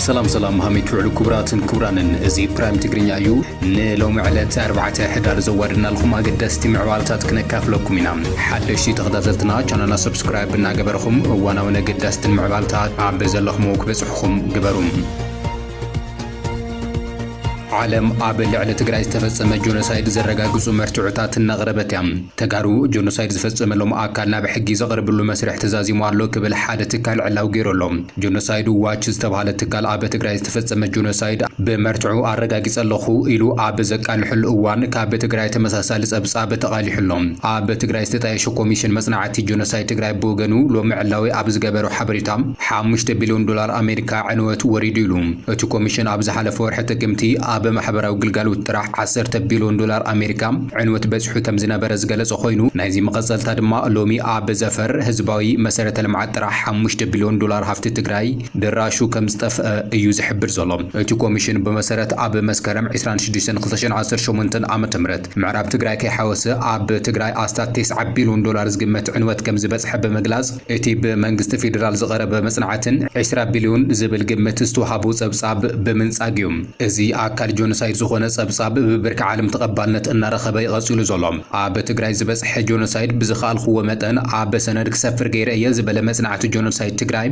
ሰላም ሰላም ሃሚት ውዕሉ ክቡራትን ክቡራንን እዚ ፕራይም ትግርኛ እዩ ንሎሚ ዕለት 4 ሕዳር ዘዋድናልኩም ኣገደስቲ ምዕባለታት ክነካፍለኩም ኢና ሓደሽቲ ተኸታተልትና ቻናልና ሰብስክራይብ እናገበርኹም እዋናውን ኣገዳስትን ምዕባልታት ኣብ ዘለኹምዎ ክበፅሕኹም ግበሩ ዓለም ኣብ ልዕሊ ትግራይ ዝተፈጸመ ጆኖሳይድ ዘረጋግጹ መርትዖታት እናቕረበት እያ። ተጋሩ ጆኖሳይድ ዝፈጸመሎም ኣካል ናብ ሕጊ ዘቕርብሉ መስርሕ ተዛዚሙ ኣሎ ክብል ሓደ ትካል ዕላዊ ገይሩ ኣሎ። ጆኖሳይድ ዋች ዝተብሃለ ትካል ኣብ ትግራይ ዝተፈጸመ ጆኖሳይድ ብመርትዖ ኣረጋጊጸ ኣለኹ ኢሉ ኣብ ዘቃልሐሉ እዋን ካብ ትግራይ ተመሳሳሊ ጸብጻብ ተቓሊሑ ኣሎ። ኣብ ትግራይ ዝተጣየሸ ኮሚሽን መጽናዕቲ ጆኖሳይድ ትግራይ ብወገኑ ሎሚ ዕላዊ ኣብ ዝገበሮ ሓበሬታ ሓሙሽተ ቢልዮን ዶላር ኣሜሪካ ዕንወት ወሪዱ ኢሉ። እቲ ኮሚሽን ኣብ ዝሓለፈ ወርሒ ጥቅምቲ ኣብ ማሕበራዊ ግልጋሎት ጥራሕ ዓሰርተ ቢልዮን ዶላር ኣሜሪካ ዕንወት በጺሑ ከምዝነበረ ዝገለጸ ኮይኑ ናይዚ መቐጸልታ ድማ ሎሚ ኣብ ዘፈር ህዝባዊ መሰረተ ልምዓት ጥራሕ ሓሙሽተ ቢልዮን ዶላር ሃፍቲ ትግራይ ድራሹ ከምዝጠፍኣ እዩ ዝሕብር ዘሎ። እቲ ኮሚሽን ብመሰረት ኣብ መስከረም ዕስራን ሽዱሽተን ክልተ ሽሕን ዓሰርተ ሸሞንተ ዓመተ ምህረት ምዕራብ ትግራይ ከይሓወሰ ኣብ ትግራይ ኣስታት ተስዓ ቢልዮን ዶላር ዝግመት ዕንወት ከምዝበጽሐ ብምግላጽ እቲ ብመንግስቲ ፌዴራል ዝቐረበ መፅናዕትን ዕስራ ቢልዮን ዝብል ግምት ዝተውሃቦ ፀብፃብ ብምንፃግ እዩ እዚ ኣካል ጆኖሳይድ ዝኾነ ፀብፃብ ብብርኪ ዓለም ተቐባልነት እናረኸበ እዩ ቐፂሉ ዘሎ። ኣብ ትግራይ ዝበፅሐ ጆኖሳይድ ብዝኸኣልኹዎ መጠን ኣብ ሰነድ ክሰፍር ገይረ እየ ዝበለ መፅናዕቲ ጆኖሳይድ ትግራይ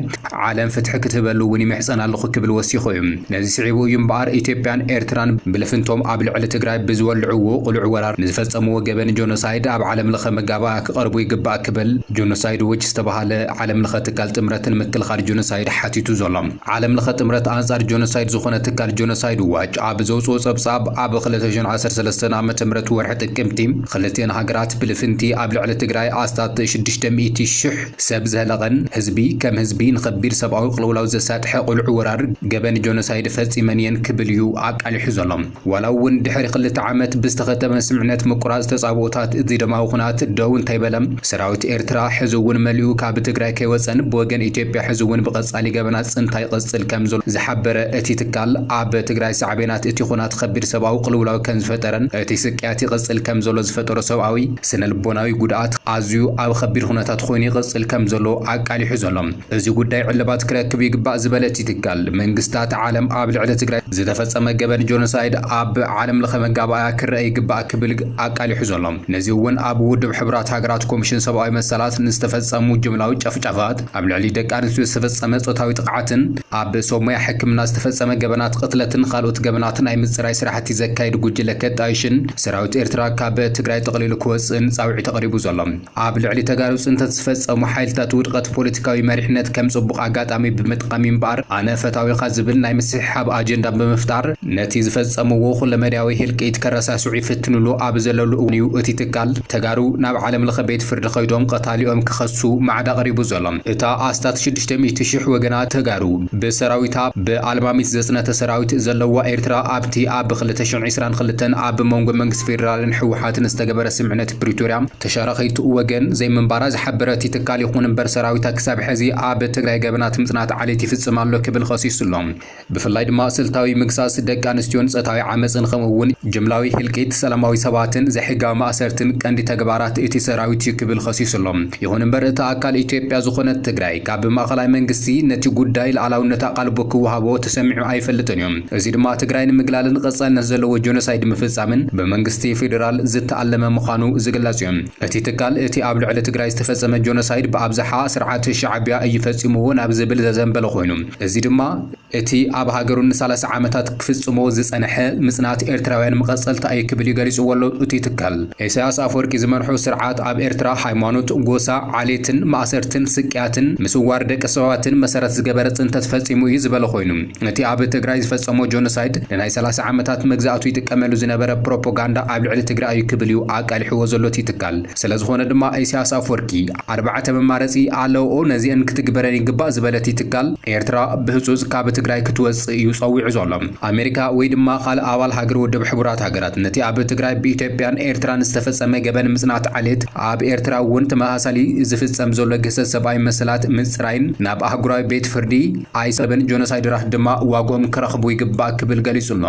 ዓለም ፍትሒ ክትህበሉ እውን ይምሕፀን ኣለኹ ክብል ወሲኹ እዩ። ነዚ ስዒቡ እዩ እምበኣር ኢትዮጵያን ኤርትራን ብልፍንቶም ኣብ ልዕሊ ትግራይ ብዝወልዕዎ ቕሉዕ ወራር ንዝፈፀምዎ ገበን ጆኖሳይድ ኣብ ዓለምለኸ መጋባእያ ክቐርቡ ይግባእ ክብል ጆኖሳይድ ዎች ዝተበሃለ ዓለም ለኸ ትካል ጥምረት ንምክልኻል ጆኖሳይድ ሓቲቱ ዘሎ ዓለም ለኸ ጥምረት ኣንፃር ጆኖሳይድ ዝኾነ ትካል ጆኖሳይድ ዎች ኣብ ዘውፅኦ ፀብፃብ ኣብ ክልተ ሽሕን ዓሰርተ ሰለስተን ዓ ም ወርሒ ጥቅምቲ ኽልቲኤን ሃገራት ብልፍንቲ ኣብ ልዕሊ ትግራይ ኣስታት ሽዱሽተ ሚእቲ ሽሕ ሰብ ዘህለቐን ህዝቢ ከም ህዝቢ ንኸቢድ ሰብኣዊ ቕልውላው ዘሳጥሐ ቕሉዕ ወራር ገበን ጆኖሳይድ ፈፂመን እየን ክብል እዩ ኣቃሊሑ ዘሎ። ዋላ እውን ድሕሪ ክልተ ዓመት ብዝተኸተመ ስምዕነት ምቁራጽ ተጻብኦታት እዚ ደማዊ ኩናት ደው እንተይበለ፣ ሰራዊት ኤርትራ ሕዚ እውን መሊኡ ካብ ትግራይ ከይወጸን ብወገን ኢትዮጵያ ሕዚ እውን ብቐጻሊ ገበናት ጽንታ ይቕጽል ከምዘሎ ዝሓበረ እቲ ትካል፣ ኣብ ትግራይ ሳዕቤናት እቲ ኩናት ኸቢድ ሰብኣዊ ቅልውላው ከምዝፈጠረን እቲ ስቅያት ይቕጽል ከምዘሎ ዝፈጠሮ ሰብኣዊ፣ ስነልቦናዊ ጉድኣት ኣዝዩ ኣብ ኸቢድ ኩነታት ኾይኑ ይቕጽል ከምዘሎ ኣቃሊሑ ዘሎ። እዚ ጉዳይ ዕልባት ክረክብ ይግባእ ዝበለቲ ትካል፣ መንግስታት ዓለም ኣብ ልዕሊ ትግራይ ዝተፈጸመ ገበን ጆኖሳይድ ኣብ ዓለም ለኸ መጋባእያ ክረኣ ይግባእ ክብል ኣቃሊሑ ዘሎ። ነዚ እውን ኣብ ውድብ ሕቡራት ሃገራት ኮሚሽን ሰብኣዊ መሰላት ንዝተፈጸሙ ጅምላዊ ጨፍጫፋት፣ ኣብ ልዕሊ ደቂ ኣንስትዮ ዝተፈጸመ ጾታዊ ጥቕዓትን፣ ኣብ ሰብ ሞያ ሕክምና ዝተፈጸመ ገበናት ቕትለትን ኻልኦት ገበናት ናይ ምጽራይ ስራሕቲ ዘካይድ ጉጅለ ከጣይሽን ሰራዊት ኤርትራ ካብ ትግራይ ጠቕሊሉ ክወጽእን ጻውዒት ኣቕሪቡ ዘሎ። ኣብ ልዕሊ ተጋሩ ፅንተት ዝፈፀሙ ሓይልታት ውድቐት ፖለቲካዊ መሪሕነት ከም ፅቡቕ ኣጋጣሚ ብምጥቓም እምበኣር ኣነ ፈታዊኻ ዝብል ናይ ምስሕሓብ ኣጀንዳ ብምፍጣር ነቲ ዝፈፀምዎ ኩለመዳያዊ ህልቂት ከረሳስዑ ይፍትኑሉ ኣብ ዘለሉ እዋን እዩ እቲ ትካል ተጋሩ ናብ ዓለምለኸ ቤት ፍርዲ ከይዶም ቐታሊኦም ክኸሱ ማዕዳ ቐሪቡ ዘሎ። እታ ኣስታት ሽዱሽተ ሚእቲ ሽሕ ወገናት ተጋሩ ብሰራዊታ ብኣልማሚት ዘፅነተ ሰራዊት ዘለዋ ኤርትራ ኣብቲ ኣብ ክልተ ሽሕን ዒስራን ክልተን ኣብ መንጎ መንግስቲ ፌደራልን ህወሓትን ዝተገበረ ስምምዕነት ፕሪቶርያ ተሻረኺቱ ወገን ዘይምንባራ ዝሓበረ እቲ ትካል ይኹን እምበር ሰራዊታ ክሳብ ሕዚ ኣብ ትግራይ ገበናት ምፅናት ዓሌት ይፍፅም ኣሎ ክብል ኸሲሱ ኣሎ። ብፍላይ ድማ ስልታዊ ምግሳስ ደቂ ኣንስትዮን ፀታዊ ዓመፅን ኸምኡ እውን ጅምላዊ ህልቂት ሰላማዊ ሰባትን ዘይሕጋዊ ማእሰርትን ቀንዲ ተግባራት እቲ ሰራዊት እዩ ክብል ኸሲሱ ኣሎ። ይኹን እምበር እታ ኣካል ኢትዮጵያ ዝኾነት ትግራይ ካብ ማእኸላይ መንግስቲ ነቲ ጉዳይ ልኣላውነት ኣቓልቦ ክወሃቦ ተሰሚዑ ኣይፈልጥን እዩ። እዚ ድማ ትግራይ ንምግላልን ቐፃልነት ዘለዎ ጆኖሳይድ ምፍፃምን ብመንግስቲ ፌዴራል ዝተኣለመ ምዃኑ ዝግለፅ ዩ። እቲ ትካል እቲ ኣብ ልዕሊ ትግራይ ዝተፈፀመ ጆኖሳይድ ብኣብዝሓ ስርዓት ሻዕቢያ እዩ ፈፂምዎ ናብ ዝብል ዘዘንበለ ኾይኑ እዚ ድማ እቲ ኣብ ሃገሩ ንሳላሳ ዓመታት ክፍፅሞ ዝፀነሐ ምፅናት ኤርትራውያን መቐፀልታ እዩ ክብል ዩ ገሊፅዎ ኣሎ እቲ ትካል። ኢሳያስ ኣፈወርቂ ዝመርሖ ስርዓት ኣብ ኤርትራ ሃይማኖት፣ ጎሳ፣ ዓሌትን፣ ማእሰርትን፣ ስቅያትን፣ ምስዋር ደቂ ሰባትን መሰረት ዝገበረ ፅንተት ፈፂሙ እዩ ዝበለ ኾይኑ፣ ነቲ ኣብ ትግራይ ዝፈጸሞ ጆኖሳይድ ንናይ ሰላሳ ዓመታት መግዛእቱ ይጥቀመሉ ዝነበረ ፕሮፖጋንዳ ኣብ ልዕሊ ትግራይ እዩ ክብል እዩ ኣቃሊሕዎ ዘሎ እቲ ትካል። ስለዝኾነ ድማ ኢሳያስ ኣፍወርቂ ኣርባዕተ መማረጺ ኣለውኦ ነዚኤን ክትግበረን ይግባእ ዝበለ እቲ ትካል ኤርትራ ብህጹጽ ካብ ትግራይ ክትወጽእ እዩ ጸዊዑ ዘሎ። ኣሜሪካ ወይ ድማ ካልእ ኣባል ሃገር ውድብ ሕቡራት ሃገራት ነቲ ኣብ ትግራይ ብኢትዮጵያን ኤርትራን ዝተፈጸመ ገበን ምጽናት ዓሌት ኣብ ኤርትራ እውን ተመሳሳሊ ዝፍጸም ዘሎ ግህሰት ሰብኣዊ መሰላት ምጽራይን ናብ ኣህጉራዊ ቤት ፍርዲ ኣይሰብን ጆኖሳይደራት ድማ ዋግኦም ክረኽቡ ይግባእ ክብል ገሊጹ'ሎ።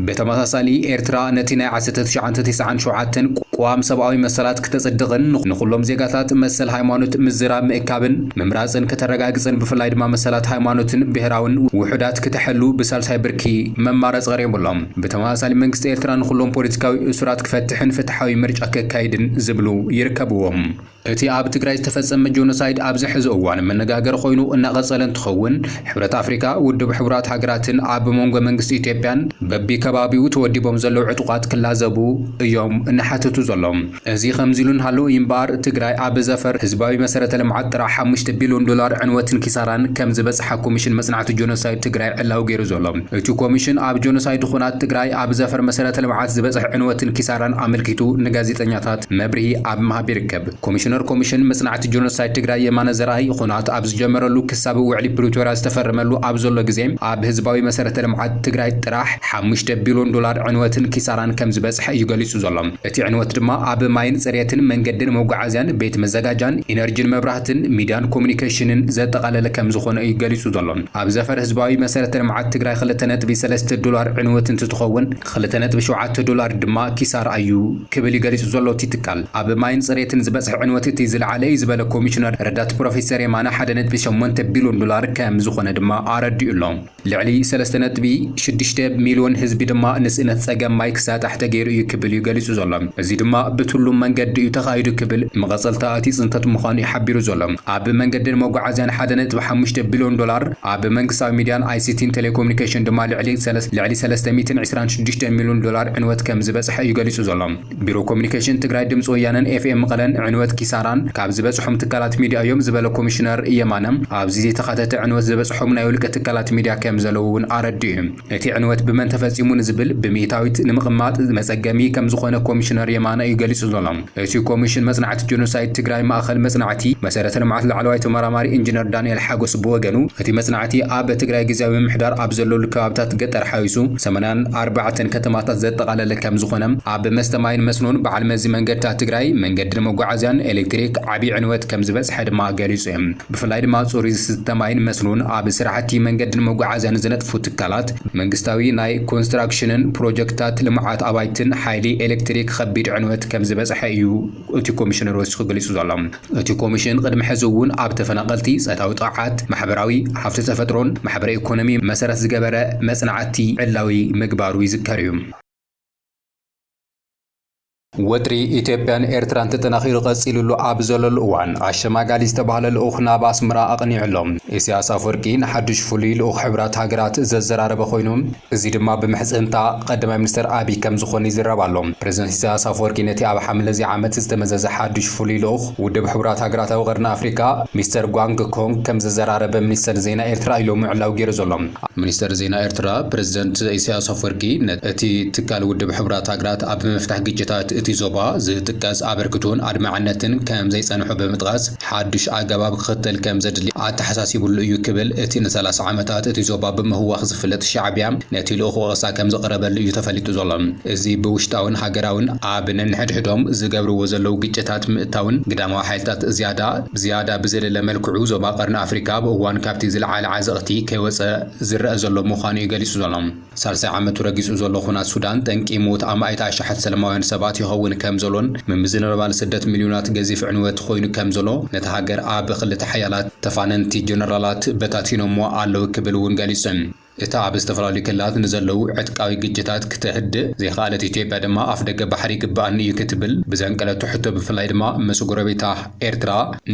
ብተመሳሳሊ ኤርትራ ነቲ ናይ ዓሰርተ ትሽዓተ ቲስዓን ሸውዓተን ቅዋም ሰብኣዊ መሰላት ክተጽድቕን ንኹሎም ዜጋታት መሰል ሃይማኖት ምዝራብ ምእካብን ምምራጽን ከተረጋግጽን ብፍላይ ድማ መሰላት ሃይማኖትን ብሄራውን ውሑዳት ክተሐሉ ብሳልሳይ ብርኪ መማረጺ ቀሪቡ'ሎ። ብተመሳሳሊ መንግስቲ ኤርትራ ንኹሎም ፖለቲካዊ እሱራት ክፈትሕን ፍትሓዊ ምርጫ ከካይድን ዝብሉ ይርከብዎም። እቲ ኣብ ትግራይ ዝተፈጸመ ጆኖሳይድ ኣብዚ ሕዚ እዋን መነጋገሪ ኮይኑ እናቐጸለ እንትኸውን፣ ሕብረት ኣፍሪካ፣ ውድብ ሕቡራት ሃገራትን ኣብ መንጎ መንግስቲ ኢትዮጵያን በቢ ከባቢኡ ተወዲቦም ዘለው ዕጡቓት ክላዘቡ እዮም እናሓተቱ ዘሎም። እዚ ከምዚ ኢሉ እናሃለወ እዩ እምበኣር ትግራይ ኣብ ዘፈር ህዝባዊ መሰረተ ልምዓት ጥራሕ ሓሙሽተ ቢልዮን ዶላር ዕንወትን ኪሳራን ከምዝበጽሓ ኮሚሽን መጽናዕቲ ጆኖሳይድ ትግራይ ዕላዊ ገይሩ ዘሎ እቲ ኮሚሽን ኣብ ጆኖሳይድ ኹናት ትግራይ ኣብ ዘፈር መሰረተ ልምዓት ዝበጽሕ ዕንወትን ኪሳራን ኣመልኪቱ ንጋዜጠኛታት መብርሂ ኣብ ምሃብ ይርከብ። ኮሚሽነር ኮሚሽን መፅናዕቲ ጆኖሳይድ ትግራይ የማነ ዘርኣይ ኹናት ኣብ ዝጀመረሉ ክሳብ ውዕሊ ፕሪቶርያ ዝተፈረመሉ ኣብ ዘሎ ግዜ ኣብ ህዝባዊ መሰረተ ልምዓት ትግራይ ጥራሕ ሓሙሽተ ቢሎን ዶላር ዕንወትን ኪሳራን ከምዝበፅሐ እዩ ገሊፁ ዘሎ። እቲ ዕንወት ድማ ኣብ ማይን ፅሬትን፣ መንገድን መጓዓዝያን፣ ቤት መዘጋጃን፣ ኢነርጂን መብራህትን፣ ሚድያን ኮሙኒኬሽንን ዘጠቓለለ ከምዝኾነ እዩ ገሊፁ ዘሎ። ኣብ ዘፈር ህዝባዊ መሰረተ ልምዓት ትግራይ ክልተ ነጥቢ ሰለስተ ዶላር ዕንወት እንትትኸውን፣ ኽልተ ነጥቢ ሸውዓተ ዶላር ድማ ኪሳራ ኣዩ ክብል እዩ ገሊፁ ዘሎ እቲ ትካል። ኣብ ማይን ፅሬትን ዝበፅሐ ዕንወት እቲ ዝለዓለ እዩ ዝበለ ኮሚሽነር ረዳት ፕሮፌሰር የማነ ሓደ ነጥቢ ሸሞንተ ቢልዮን ዶላር ከምዝኾነ ድማ ኣረዲኡ ኣሎ። ልዕሊ ሰለስተ ነጥቢ ሽዱሽተ ሚልዮን ህዝቢ ድማ ንስእነት ፀገም ማይ ክሳጣሕ ተገይሩ እዩ ክብል እዩ ገሊፁ ዘሎ። እዚ ድማ ብትሉም መንገዲ እዩ ተኻይዱ ክብል መቐፀልታ እቲ ፅንተት ምዃኑ እዩ ሓቢሩ ዘሎ። ኣብ መንገድን መጓዓዝያን ሓደ ነጥቢ ሓሙሽተ ቢልዮን ዶላር፣ ኣብ መንግስታዊ ሚድያን ኣይሲቲን ቴሌኮሙኒኬሽን ድማ ልዕሊ ልዕሊ ሰለስተ ሚእትን ዕስራን ሽዱሽተን ሚሉን ዶላር ዕንወት ከም ዝበፅሐ እዩ ገሊፁ ዘሎ። ቢሮ ኮሙኒኬሽን ትግራይ ድምፂ ወያነን ኤፍኤም መቐለን ዕንወት ኪሳራን ካብ ዝበፅሖም ትካላት ሚድያ እዮም ዝበለ ኮሚሽነር የማነ ኣብዚ ዘይተኻተተ ዕንወት ዝበፅሖም ናይ ውልቀ ትካላት ሚድያ ከም ዘለዉ እውን ኣረዲኡ። እቲ ዕንወት ብመን ተፈጺሙ ንዝብል ብሚእታዊት ንምቕማጥ መጸገሚ ከምዝኾነ ኮሚሽነር የማነ እዩ ገሊጹ ዘሎ። እቲ ኮሚሽን መጽናዕቲ ጀኖሳይድ ትግራይ ማእኸል መጽናዕቲ መሰረተ ልምዓት ላዕለዋይ ተመራማሪ ኢንጂነር ዳንኤል ሓጎስ ብወገኑ እቲ መጽናዕቲ ኣብ ትግራይ ግዝያዊ ምምሕዳር ኣብ ዘለሉ ከባብታት ገጠር ሓዊሱ ሰማንያን ኣርባዕተን ከተማታት ዘጠቓለለ ከምዝኾነ ኣብ መስተ ማይን መስኖን በዓል መዚ መንገድታት ትግራይ መንገድን መጓዓዝያን ኤሌክትሪክ ዓብዪ ዕንወት ከምዝበፅሐ ድማ ገሊፁ እዩ። ብፍላይ ድማ ፅሩይ ዝስተ ማይን መስኖን ኣብ ስራሕቲ መንገድን መጓዓዝያን ዝነጥፉ ትካላት፣ መንግስታዊ ናይ ኮንስትራክሽንን ፕሮጀክትታት ልምዓት ኣባይትን ሓይሊ ኤሌክትሪክ ኸቢድ ዕንወት ከምዝበፅሐ እዩ እቲ ኮሚሽነር ወሲኹ ገሊፁ ዘሎ። እቲ ኮሚሽን ቕድሚ ሕዚ እውን ኣብ ተፈናቐልቲ ፆታዊ ጥቕዓት፣ ማሕበራዊ፣ ሃፍቲ ተፈጥሮን ማሕበረ ኢኮኖሚ መሰረት ዝገበረ መፅናዕቲ ዕላዊ ምግባሩ ይዝከር እዩ። ወጥሪ ኢትዮጵያን ኤርትራን ተጠናኺሩ ቀጺሉሉ ኣብ ዘለሉ እዋን፣ ኣሸማጋሊ ዝተባህለ ልኡኽ ናብ ኣስመራ ኣቕኒዑ ኣሎ። ኢሳያስ ኣፍወርቂ ንሓድሽ ፍሉይ ልኡኽ ሕቡራት ሃገራት ዘዘራረበ ኮይኑ፣ እዚ ድማ ብምሕጽንታ ቀዳማይ ሚኒስተር ኣቢይ ከም ዝኾነ ይዝረብ ኣሎ። ፕረዚደንት ኢሳያስ ኣፍወርቂ ነቲ ኣብ ሓምለ'ዚ ዓመት ዝተመዘዘ ሓድሽ ፍሉይ ልኡኽ ውድብ ሕቡራት ሃገራት ኣብ ቐርኒ ኣፍሪቃ ሚስተር ጓንግ ኮንግ ከም ዘዘራረበ ሚኒስተር ዜና ኤርትራ ኢሎሚ ዕላዊ ገይሩ ዘሎ። ሚኒስተር ዜና ኤርትራ፣ ፕረዚደንት ኢሳይያስ ኣፍወርቂ እቲ ትካል ውድብ ሕቡራት ሃገራት ኣብ ምፍታሕ ግጭታት እቲ ዞባ ዝጥቀስ ኣበርክቶን ኣድማዕነትን ከም ዘይጸንሖ ብምጥቓስ፣ ሓድሽ ኣገባብ ክኽተል ከም ዘድሊ ኣተሓሳሲቡሉ እዩ ክብል እቲ ንሰላሳ ዓመታት እቲ ዞባ ብምህዋኽ ዝፍለጥ ሻዕብያ ነቲ ልኡኽ ወቐሳ ከም ዘቕረበሉ እዩ ተፈሊጡ ዘሎ። እዚ ብውሽጣውን ሃገራውን ኣብ ነንሕድሕዶም ዝገብርዎ ዘለዉ ግጭታት ምእታውን ግዳማዊ ሓይልታት ዝያዳ ብዝያዳ ብዘለለ መልክዑ ዞባ ቀርኒ ኣፍሪቃ ኣብ እዋን ካብቲ ዝለዓለ ዕዝቕቲ ከይወጸ ዝረኣ ዘሎ ምዃኑ'ዩ ገሊጹ ዘሎ። ሳልሳይ ዓመቱ ረጊጹ ዘሎ ኹናት ሱዳን፣ ጠንቂ ሞት ኣማኢት ኣሽሓት ሰለማውያን ሰባት ይኸውን ከም ዘሎን ምምዝንባል ስደት ሚልዮናት ገዚፍ ዕንወት ኾይኑ ከም ዘሎ ነታ ሃገር ኣብ ኽልተ ሓያላት ተፋነንቲ ጀነራላት በታቲኖምዋ ኣለዉ ክብል እውን ገሊጹ። እታ ኣብ ዝተፈላለዩ ክልላት ንዘለዉ ዕጥቃዊ ግጭታት ክተህድእ ዘይኸኣለት ኢትዮጵያ ድማ ኣፍደገ ባሕሪ ይግበኣኒ እዩ ክትብል ብዘንቀለቶ ሕቶ ብፍላይ ድማ ምስ ጎረቤታ ኤርትራ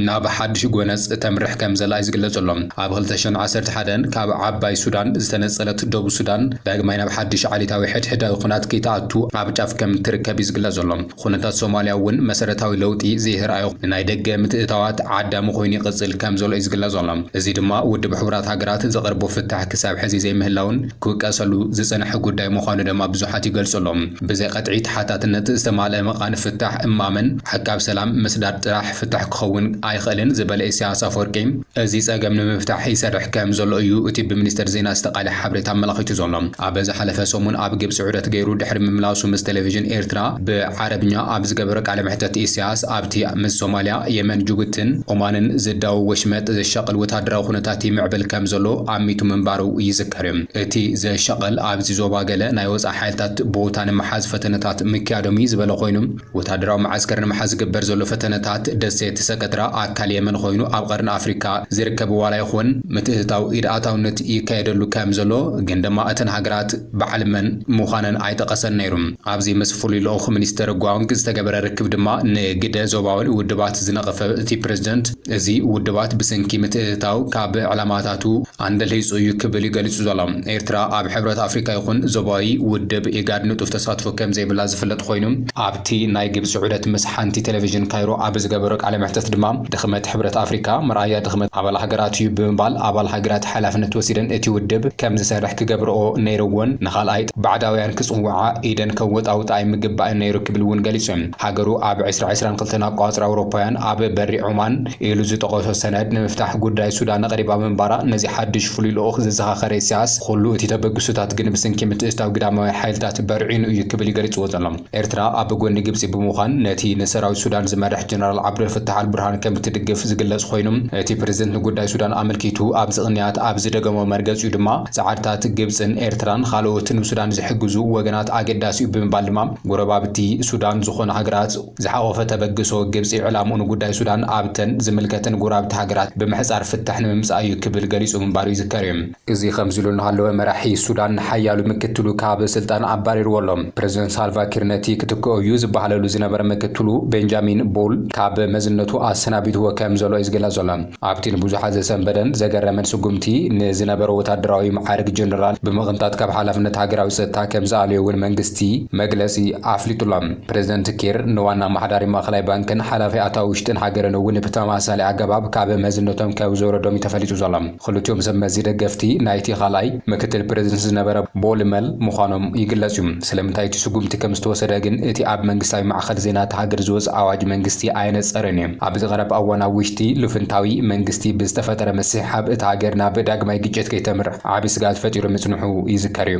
ናብ ሓድሽ ጎነጽ እተምርሕ ከምዘላ'ዩ ዝግለጸሎም። ኣብ ክልተ ሽሕን ዓሰርተ ሓደን ካብ ዓባይ ሱዳን ዝተነጸለት ደቡብ ሱዳን ዳግማይ ናብ ሓድሽ ዓሌታዊ ሕድሕዳዊ ኩናት ከይትኣቱ ኣብ ጫፍ ከምትርከብ'ዩ ዝግለጽ ዘሎ። ኩነታት ሶማልያ'ውን መሰረታዊ ለውጢ ዘየርኣዮ ንናይ ደገ ምትእትታዋት ዓዳሚ ኮይኑ ይቕጽል ከምዘሎ'ዩ ዝግለጽ ዘሎ። እዚ ድማ ውድብ ሕቡራት ሃገራት ዘቕርቦ ፍታሕ ክሳብ ሕዚ ዘይምህላዉን ክውቀሰሉ ዝጸንሐ ጉዳይ ምዃኑ ደማ ብዙሓት ይገልጹ ኣሎዉ። ብዘይቐጥዒ ተሓታትነት ዝተማልአ መቓን ፍታሕ እማመን፣ ሕጋብ ሰላም ምስዳድ ጥራሕ ፍታሕ ክኸውን ኣይኽእልን ዝበለ ኢሳያስ ኣፈወርቂ፣ እዚ ጸገም ንምፍታሕ ይሰርሕ ከም ዘሎ እዩ እቲ ብሚኒስተር ዜና ዝተቃልሐ ሓበሬታ ኣመላኺቱ ዘሎ። ኣብ ዝሓለፈ ሰሙን ኣብ ግብጺ ዑደት ገይሩ ድሕሪ ምምላሱ ምስ ቴሌቪዥን ኤርትራ ብዓረብኛ ኣብ ዝገበሮ ቃለ መሕተት ኢሳያስ ኣብቲ ምስ ሶማልያ፣ የመን፣ ጅቡቲን ኦማንን ዝዳወብ ወሽመጥ ዘሻቕል ወተሃደራዊ ኩነታት ይምዕብል ከም ዘሎ ኣሚቱ ምንባሩ ይዝከር። እቲ ዘሻቕል ኣብዚ ዞባ ገለ ናይ ወጻኢ ሓይልታት ቦታ ንምሓዝ ፈተነታት ምክያዶም'ዩ ዝበለ ኮይኑ፣ ወታደራዊ መዓስከር ንምሓዝ ዝግበር ዘሎ ፈተነታት፣ ደሴት ሰከትራ ኣካል የመን ኮይኑ ኣብ ቐርኒ ኣፍሪካ ዝርከብ ዋላ ይኹን ምትእትታው ኢድ ኣታውነት ይካየደሉ ከም ዘሎ ግን ድማ እተን ሃገራት በዓል መን ምዃነን ኣይጠቐሰን ነይሩ። ኣብዚ ምስ ፍሉይ ልኡኽ ሚኒስተር ጓንግ ዝተገበረ ርክብ ድማ ንግደ ዞባዊ ውድባት ዝነቐፈ እቲ ፕረዚደንት፣ እዚ ውድባት ብሰንኪ ምትእትታው ካብ ዕላማታቱ ኣንደልሂጹ እዩ ክብል እዩ ገሊጹ ዘሎ። ኤርትራ ኣብ ሕብረት ኣፍሪካ ይኹን ዞባዊ ውድብ ኢጋድ ንጡፍ ተሳትፎ ከምዘይብላ ዝፍለጥ ኮይኑ፣ ኣብቲ ናይ ግብጺ ዑደት ምስ ሓንቲ ቴሌቪዥን ካይሮ ኣብ ዝገበሮ ቃለ መሕተት ድማ ድኽመት ሕብረት ኣፍሪካ መርኣያ ድኽመት ኣባል ሃገራት እዩ ብምባል ኣባል ሃገራት ሓላፍነት ወሲደን እቲ ውድብ ከምዝሰርሕ ክገብርኦ ነይርዎን ንካልኣይ ባዕዳውያን ክጽውዓ ኢደን ከወጣውጣ ኣይምግባእን ነይሩ ክብል እውን ገሊጹ። ሃገሩ ኣብ ዕስራ ዕስራን ክልተን ኣቆጻጽራ ኣውሮፓውያን ኣብ በሪ ዖማን ኢሉ ዝጠቐሶ ሰነድ ንምፍታሕ ጉዳይ ሱዳን ኣቕሪባ ምንባራ ነዚ ሓድሽ ፍሉይ ልኡኽ ዘዘኻኸረ ኢሳያስ ኹሉ እቲ ተበግሶታት ግን ብስንኪ ምትእትታው ግዳማውያን ሓይልታት በርዒኑ እዩ ክብል እዩ ገሊጽዎ ዘሎ። ኤርትራ ኣብ ጎኒ ግብጺ ብምዃን ነቲ ንሰራዊት ሱዳን ዝመርሕ ጀነራል ዓብደልፈታሕ ኣልቡርሃን ከምትድግፍ ዝግለጽ ኾይኑ እቲ ፕረዚደንት ንጉዳይ ሱዳን ኣመልኪቱ ኣብዚ ቅንያት ኣብ ዝደገሞ መርገጺኡ ድማ ጻዕርታት ግብጽን ኤርትራን ኻልኦት ንሱዳን ዝሕግዙ ወገናት ኣገዳሲ'ዩ ብምባል ድማ ጎረባብቲ ሱዳን ዝኾና ሃገራት ዝሓቖፈ ተበግሶ ግብጺ ዕላምኡ ንጉዳይ ሱዳን ኣብተን ዝምልከተን ጎረባብቲ ሃገራት ብምሕጻር ፍታሕ ንምምጻእ እዩ ክብል ገሊጹ ምንባሩ ይዝከር እዩ። እዚ ከምዚ ኢሉ እናሃለወ መራሒ ሱዳን ንሓያሉ ምክትሉ ካብ ስልጣን ኣባሪርዎ ኣሎ። ፕረዚደንት ሳልቫኪር ነቲ ክትክኦ እዩ ዝበሃለሉ ዝነበረ ምክትሉ ቤንጃሚን ቦል ካብ መዝነቱ ኣሰናቢትዎ ከምዘሎ እዩ ዝግለጽ ዘሎ። ኣብቲ ንብዙሓት ዘሰንበደን ዘገረመን ስጉምቲ፣ ንዝነበሮ ወታደራዊ መዓርግ ጀነራል ብምቕንጣጥ ካብ ሓላፍነት ሃገራዊ ጸጥታ ከም ዝኣለዮ'ውን መንግስቲ መግለጺ ኣፍሊጡ'ሎ። ፕረዚደንት ኪር ንዋና ኣመሓዳሪ ማእከላይ ባንክን ሓላፊ ኣታዊ ውሽጢን ሃገርን'ውን ብተመሳሳሊ ኣገባብ ካብ መዝነቶም ከም ዘውረዶም'ዩ ተፈሊጡ ዘሎ። ክልቲኦም ሰብመዚ ደገፍቲ ናይቲ ካልኣይ ምክትል ፕረዚደንት ዝነበረ ቦል መል ምዃኖም ይግለጽ'ዩ። ስለምንታይ እቲ ስጉምቲ ከም ዝተወሰደ ግን እቲ ኣብ መንግስታዊ ማዕከን ዜና እታ ሃገር ዝወጸ ኣዋጅ መንግስቲ ኣየነጸረን'ዩ። ኣብዚ ቀረባ እዋን ኣብ ውሽጢ ልፍንታዊ መንግስቲ ብዝተፈጠረ ምስሕሓብ እታ ሃገር ናብ ዳግማይ ግጭት ከይተምርሕ ዓቢ ስግኣት ፈጢሩ ምጽንሑ ይዝከር እዩ።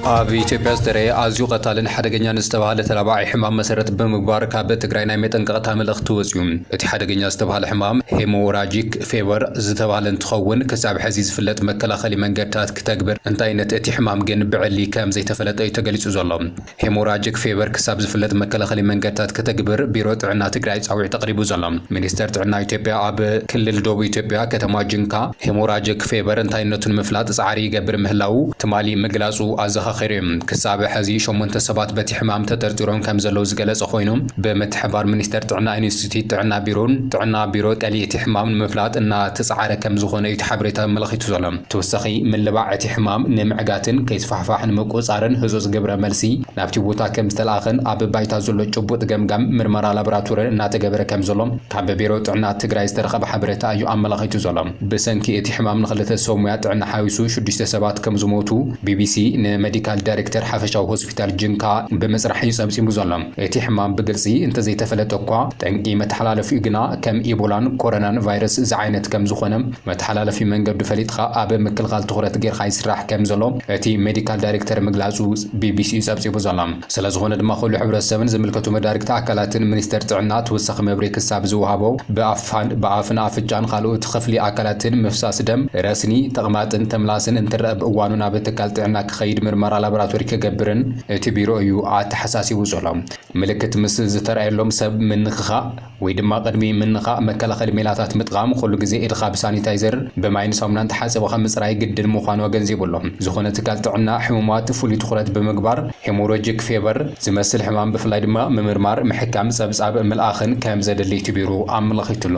ኣብ ኢትዮጵያ ዝተረየ ኣዝዩ ቀታልን ሓደገኛን ዝተባሃለ ተላባዒ ሕማም መሰረት ብምግባር ካብ ትግራይ ናይ መጠንቀቕታ መልእኽቲ ወፂኡ። እቲ ሓደገኛ ዝተባሃለ ሕማም ሄሞራጂክ ፌቨር ዝተባሃለ እንትኸውን ክሳብ ሕዚ ዝፍለጥ መከላኸሊ መንገድታት ክተግብር እንታይነት እቲ ሕማም ግን ብዕሊ ከም ዘይተፈለጠ እዩ ተገሊፁ ዘሎ። ሄሞራጅክ ፌቨር ክሳብ ዝፍለጥ መከላኸሊ መንገድታት ከተግብር ቢሮ ጥዕና ትግራይ ፃዊዕት ኣቕሪቡ ዘሎ። ሚኒስቴር ጥዕና ኢትዮጵያ ኣብ ክልል ደቡብ ኢትዮጵያ ከተማ ጂንካ ሄሞራጅክ ፌቨር እንታይነቱ ንምፍላጥ ፃዕሪ ይገብር ምህላዉ ትማሊ ምግላፁ ኣዘኻኺሩ እዩ። ክሳብ ሐዚ ሸሞንተ ሰባት በቲ ሕማም ተጠርጢሮም ከም ዘለዉ ዝገለፀ ኾይኑ ብምትሕብባር ሚኒስቴር ጥዕና ኢንስቲትዩት ጥዕና ቢሮን ጥዕና ቢሮ ጠሊ እቲ ሕማም ንምፍላጥ እናተፀዓረ ከም ዝኾነ እዩ እቲ ሓበሬታ ኣመላኺቱ ዘሎ። ተወሳኺ ምልባዕ እቲ ሕማም ንምዕጋትን ከይስፋሕፋሕ ንምቁፅፃርን ህፁፅ ግብረ መልሲ ናብቲ ቦታ ከምዝተልኣኸን ኣብ ባይታ ዘሎ ጭቡጥ ገምጋም ምርመራ ላቦራቶርን እናተገበረ ከምዘሎ ካብ ቢሮ ጥዕና ትግራይ ዝተረኸበ ሓበሬታ እዩ ኣመላኺቱ ዘሎ። ብሰንኪ እቲ ሕማም ንክልተ ሰብ ሙያ ጥዕና ሓዊሱ ሽዱሽተ ሰባት ከምዝሞቱ ቢቢሲ ንመዲካል ዳይሬክተር ሓፈሻዊ ሆስፒታል ጅንካ ብምፅራሕ እዩ ፀብፂቡ ዘሎ። እቲ ሕማም ብግልፂ እንተዘይተፈለጠ እኳ ጠንቂ መተሓላለፊኡ ግና ከም ኢቦላን ኮረናን ቫይረስ ዝዓይነት ከምዝኾነ መተሓላለፊ መንገዱ ፈሊጥኻ ኣብ ምክልኻል ትኹረት ጌርካ ይስራሕ ከምዘሎ እቲ ሜዲካል ዳይሬክተር ምግላጹ ቢቢሲ'ዩ ጸብጺቡ ዘሎ። ስለዝኾነ ድማ ኩሉ ሕብረተሰብን ዝምልከቱ መዳርግቲ ኣካላትን ሚኒስተር ጥዕና ተወሳኺ መብርሂ ክሳብ ዝወሃቦ ብኣፍን ኣፍንጫን ካልኦት ኽፍሊ ኣካላትን ምፍሳስ ደም፣ ረስኒ፣ ተቕማጥን ተምላስን እንትረኣ ብእዋኑ ናብ ትካል ጥዕና ክኸይድ ምርመራ ላቦራቶሪ ክገብርን እቲ ቢሮ እዩ ኣተሓሳሲቡ ዘሎ። ምልክት ምስ ዝተርኣየሎም ሰብ ምንኽኻእ። ወይ ድማ ቅድሚ ምንኻእ መከላኸሊ ሜላታት ምጥቓም፣ ኹሉ ግዜ ኢድኻ ብሳኒታይዘር፣ ብማይን ሳሙናን ተሓጽብኻ ምጽራይ ግድን ምዃኑ ኣገንዚቡ ኣሎ። ዝኾነ ትካል ጥዕና፣ ሕሙማት ፍሉይ ትኹረት ብምግባር፣ ሄሞሮጂክ ፌቨር፣ ዝመስል ሕማም ብፍላይ ድማ ምምርማር፣ ምሕካም፣ ጸብጻብ ምልኣኽን ከም ዘድሊ ትቢሩ ኣመላኺቱ ኣሎ።